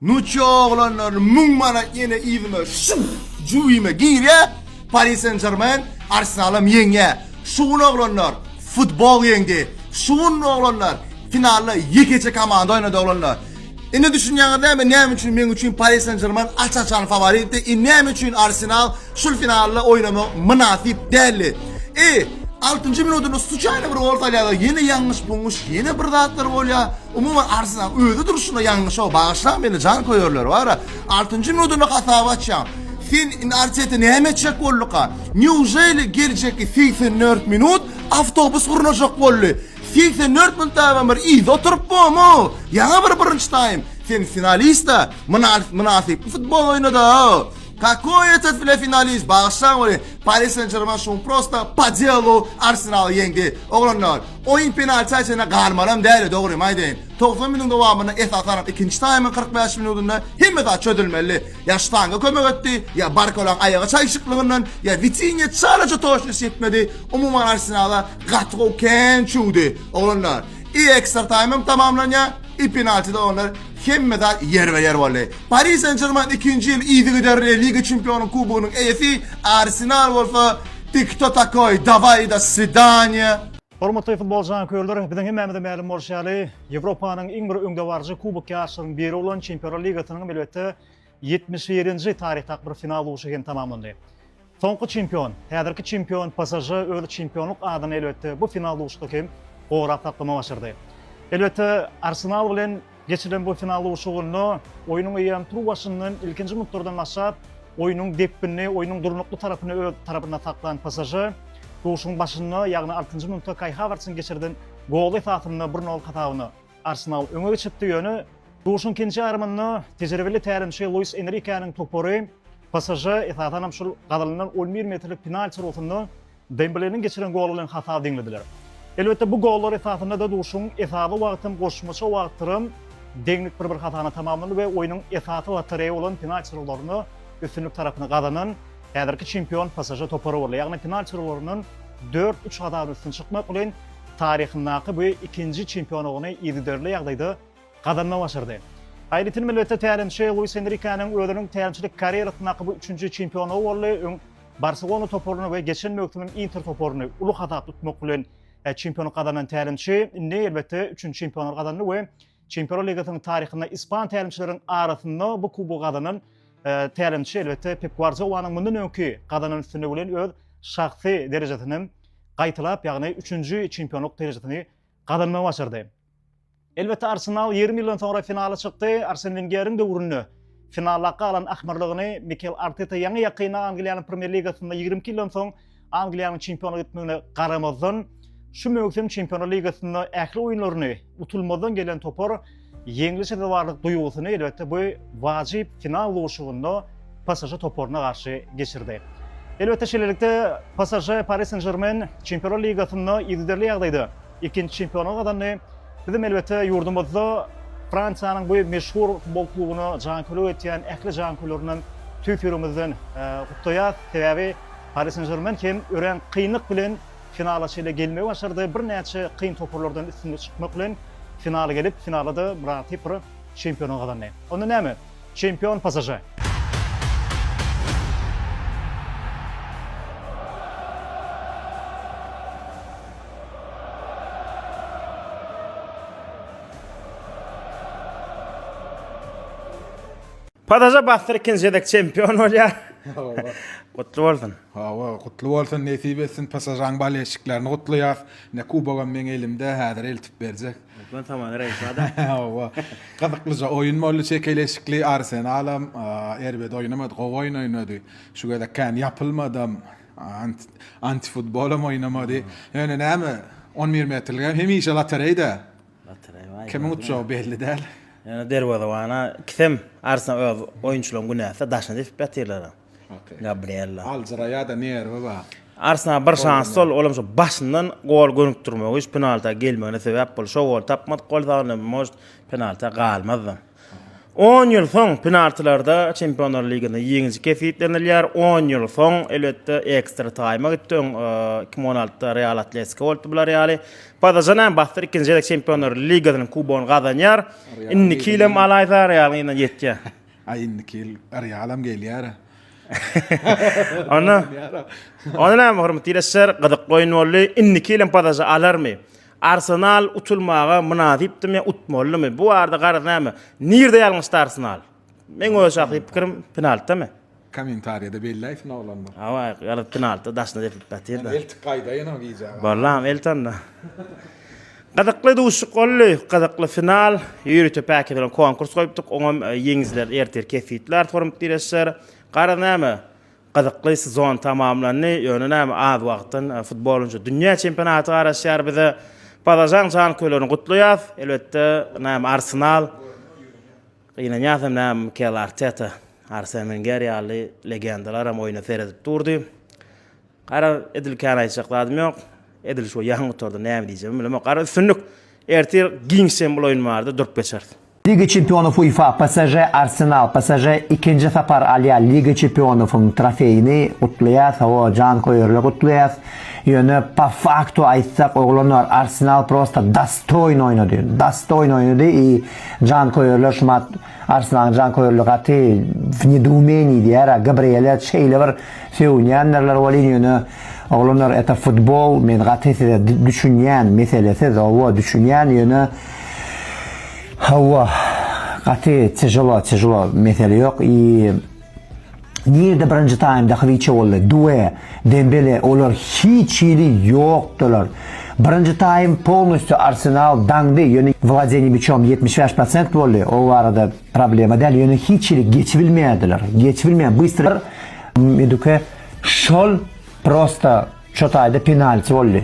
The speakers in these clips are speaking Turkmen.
Nuçja oglanlaryny müň manat ýene yzyma şuh jüwime girýä Paris Saint Germain Arsenalam ýeňýä şu gün oglanlar futbol ýeňdi şu gün oglanlar finalda ýekeje komanda oýnady oglanlar indi düşünýäňiz näme näme üçin meň üçin Paris Saint Germain aç açan faworitdi i näme üçin Arsenal Şul finalda oýnamak mynasyp däldi. E, altynjy minutynda sluçaýny bir gol salýarlar, ýene ýalňyş-buňňuş, ýene bir zatlar bolýar. Umuman, Arsenal özi durşuna ýalňyşa bagyşlaň meni, janköýerler bar-a. Altynjy minutynda hasaby açýaň. Sen indi Arteta näme etjek bolduka? Neujeli geljekki segsen dört minut awtobus gurnajak boldy? Segsen dört minut daýawan bir yzda oturyp bomu? Ýaňy bir birinji taým. Sen finalist-a, mynasyp futbol oýna-da! Kakoý etet bile finalist bagyşlaň meni Paris Saint Germain şuň prosta pa delu Arsenal ýeňdi oglanlar oýun penalta çene galmalam däli dogrymy aýdaýyn 90 minut dowamynda esasanam ikinji taýmyň 45 minutynda hemme zat çözülmeli ýa ştanga kömek etdi ýa Barkolaň aýagy çaýşyklygyndan ýa Witinya çalaja toşnus ýetmedi umuman Arsenala gaty gowy kän çüwdi oglanlar i ekstra taýmym tamamlanýa i penaltida oglanlar Hemme zat ýerbe-ýer boldy. Pari Sen-Žermen ikinji ýyl yzygiderli Liga çempionlaryň kubogynyň eýesi, Arsenal bolsa Ti kto takoý, dawai do svidaniýa! Hormatly futbol janköýerler, biziň hemmämize mälim bolşy ýaly, Ýewropanyň iň bir öňdebaryjy kubok ýaryşlarynyň biri bolan Çempionlar ligasynyň hem elbetde, Ýetmiş birinji taryhdak bir final urşy hem tamamlandy. Soňky çempion, häzirki çempion PSŽ öz çempionlyk adyny elbetde bu final urşda hem gorap saklamagy başardy. Elbetde Arsenal bilen geçirilen bu final urşugynda oýnuň eýýäm tur başyndan ilkinji minutlardan başlap oýnuň depginini, oýnuň durnukly tarapyny öz tarapynda saklan PSŽ urşuň başynda, ýagny altynjy minutda Kaý Hawertsiň geçirden goly esasynda bir nol hasabyna Arsenal öňe geçipdi, ýöne duşuň ikinji ýarymynda tejribeli tälimçi Luis Enrikeniň topary PSŽ esasan hem şol gazalynan on bir metrlik penalti urgusynda Dembleniň geçiren goly bilen hasaby deňlediler. Elbetde, bu gollar esasynda-da duşuň esasy wagty hem goşmaça wagtdyram deňlik bir-bir hasana tamamlandy we oýnuň esasy lotoreýa bolan penalti urgularyna üstünlik tarapyny gazanan Häzirki çempion PSŽ topary boldy, ýagny final çyzgylaryndan dört uç hasabyna üstün çykmak bilen, taryhyndaky bu ikinji çempionlygyny yzygiderli ýagdaýda gazanmagy başardy. Aýratyn elbetde tälimçi Luis Enrikeniň özüniň tälimçilik karýerasyndaky bu üçünji çempionlygy boldy, öň Barselona toparyny we geçen möwsümem Inter toparyny uly hasap tutmak bilen çempionlyk gazanan tälimçi indi elbetde üçünji çempionlygy gazandy we Çempionlar ligasynyň taryhynda ispan tälimçileriň arasynda bu kubogy gazanan tälimçi elbetde Pep Guardiolanyň mundan öňki gazanan üstünligi bilen öz şahsy derejesini hem gaýtalap, ýagny üçünji çempionlyk derejesini gazanmagy başardy. Elbetde Arsenal ýerim ýyldan soňra finala çykdy. Arsen Wengeriň döwründe finala galan ahmyrlygyny Mikel Arteta ýaňy-ýakyn Angliýanyň Premýer ligasynda ýigrimi iki ýyldan soň Angliýanyň çempionlyk etmegine garamazdan, şu möwsüm Çempionlar ligasynda ähli oýunlaryny utulmazdan gelen topar ýeňli sezewarlyk duýgusyny elbetde bu wajyp final duşuşygynda PSŽ toparyna garşy geçirdi. Elbetde şeýlelikde PSŽ Paris Saint-Germain Çempionlar ligasynda yzygiderli ýagdaýda ikinji çempionlygy gazandy. Bizem elbetde ýurdumyzda Fransiýanyň bu meşhur futbol klubuna janköýerlik etýän ähli janköýerlerinden tüýs ýüregimizden gutlaýas. Sebäbi Pari Sen Žermen hem örän kynlyk bilen finala çenli gelmegi başardy. Birnäçe kyn toparlardan üstünlikli çykmak bilen finala gelip, finalda-da myraty bir çempiony gazandy. Onda näme? Çempion PSŽ. PSŽ bassyr ikinji gezek çempion bolýar. Gutly bolsun. Hawa, gutly bolsun, nesip etsin. PSŽ-nyň bolelşiklerini gutlaýas. Ine, kubogam meň elimde, häzir eltip berjek. Hökman Tamara Raýisowada. Hawa. Gyzyklyja oýun boldy, çekeleşikli. Arsenalam erbet oýnamady, gowy oýun oýnady. Şu gezek kän ýapylmadam, antifutbolam oýnamady. Ýöne näme, on bir metrligem hemişe lotereýda. Lotereý baý. Kimiň utjagy belli däl. Ýöne derwezebana ikisem Arsenal öz oýunçylaryň günäsi, daşyny depip ýatyrlar. Gabriella. Aljyraýada nerwi bar. Arslan bir şans sol olam şo başyndan gol gönükdirmegi şu penalta gelmegine sebäp boldy şo goly tapmadyk bolsa onda может penalta galmazdam. On ýyl soň penaltilarda Çempionlar ligasynda ýeňiji kesgitlenilýär. On ýyl soň elbetde ekstra taýma gitdi. Öň 2016-da Real Atletiko bolupdy bular ýaly. Pazajan hem basdyr ikinji gezek Çempionlar ligasynyň kubogyny gazanýar. Indiki ýyl hem alaýsa Realyň elinden ýetýär. Aý indiki ýyl Realam gelýär. Onda Onda näme hormatly ilesler, gyzykly oýun boldy. Indiki ýyl hem pasažy alarmy? Arsenal utulmaga mynasypdymy, utmalymy? Bu barada garaz näme? Nirde ýalňyşdy Arsenal? Meň öz şahsy pikirim penaltidami? Kommentariýada belläýsin oglanlar. Hawa, garaz penaltida daşyna depip ýatyr-da. Eltik gaýdaýyn o gije. Bollam elti onda. Gyzykly duşuşyk boldy. Gyzykly final. Ýörite päkeden konkurs goýupdyk. Oňam ýeňijileri ertir kesgitler hormat dileşler. Garaz näme, gyzykly sezon tamamlandy. Ýöne näme, az wagtdan futbol boýunça dünýä çempionaty garaşýar bize. Pazažaň janköýerlerini gutlaýas. Elbetde, näme, Arsenal. Gynanýas hem näme, Mikel Arteta, Arsen Wenger ýaly legendalaram oýna seredip durdy. Garaz, edil kän aýtjak zadym ýok. Edil şu ýaňy gutardy, näme diýjegimi bilemok. Garaz, üstünlik! Ertir giňişs hem bul oýun bardy, durup geçeris. Liga çempionyf UEFA, PSŽ, Arsenal, PSŽ ikinji sapar alýar Liga çempionyfyň trofeýini, gutlaýas, hawa, janköýerler gutlaýas, ýöne po faktu aýtsak, oglanlar, Arsenal prosta dostoýn oýnady, dostoýn oýnady i janköýerler şumat, Arslanyň janköýerligi gaty w nedoumeniýi diýýär-ä, Gabriele şeýle bir sögünýändirler welin, ýöne, oglanlar, eta futbol, men gaty size düşünýän, meselesiz, hawa, düşünýän, ýöne, hawa, gaty tyželo, tyžlo, mesele ýok, i, Nirde birinji taýmda Hywiçe boldy, Due, Dembele olar hiç hili ýokdylar. Birinji taým polnusty Arsenal daňdy, ýöne wladeni miçom ýetmiş bäş prosent boldy, o barada problema däl, ýöne hiç hili geçibilmeýärdiler, geçibilmeýär bystry Meduke şol prosta ço taýda penalti boldy.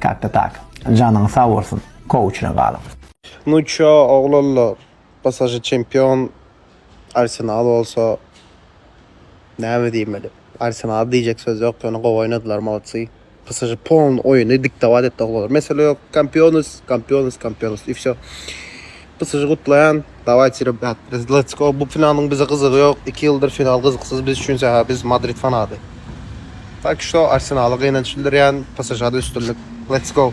Kakda tak. Janyň sag bolsun. Kowçuna galyň. Nu ço oglanlar psj çempion arsenal bolsa näme diýmeli arsenala diýjek söz ýok ýöne gowy oýnadylar molodsy psj polny oýny diktobat etdi oglanlar mesele ýok kampionys kampionys kampionys i wsýo. Bu sizi gutlaýan. Dawayçi rebrat biz let's go bu finalyň bize gyzygy ýok iki ýyldyr final gyzyksyz biz üçin sähä biz madrid fanaty. Tak şto arsenala gynanç bildirýän psžda üstünlik let's go.